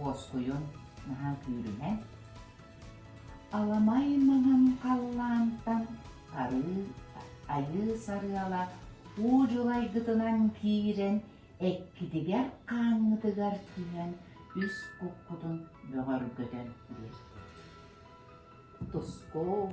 Уоскуйун наһаа күүрүһэ, аламай маҥан халлаантан арыы айыы сарыала уу дьулайгытынан киирэн эккитигэр хааҥҥытыгар түһэн үс куккутун бөҕөргөтөн биэр. Туску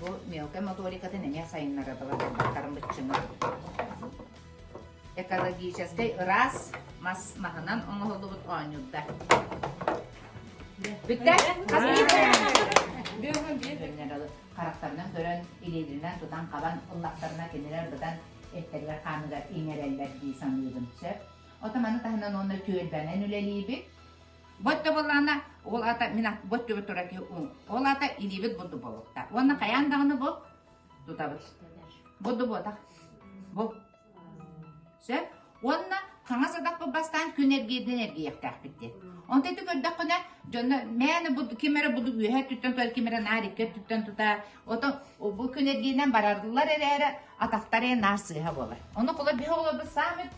Бу мелкай моторикатын эмиэ сайыннарылла турбаттарын быччыҥа. Экологическай ыраас мас маһынан оҥоһуллубут оонньуурда. Бүттэ? Харахтарынан көрөн, илиилэринэн тутан хабан, ыллахтарына кинилэр быдан эттэригэр хааныгар иҥэрэллэр дии саныыбын сөп. Отаманы таһынан уонна түөлбэнэн үлэлиибит. Бот да буоллаҕына, ол аата мин бот түбэ турар киһи уҥ. Ол аата илиибит бурду буолбуттар. Уонна хайаан даҕаны бу тутабыт. Бурду буотах. Бу. Сөп. Уонна хаҥас адахпыт бастаан күн эргиирдэн эргийиэхтээхпит диэн. Онтон ити көрдөххүнэ, дьонно мээнэ буду ким эрэ буду үөһэ өттүттэн тута ким эрэ наар икки өттүттэн тута отон бу күн эргиинэн барарлар эрээри атахтар ээ наар сыыһа буолар. Ону кула биһи олорбут саамит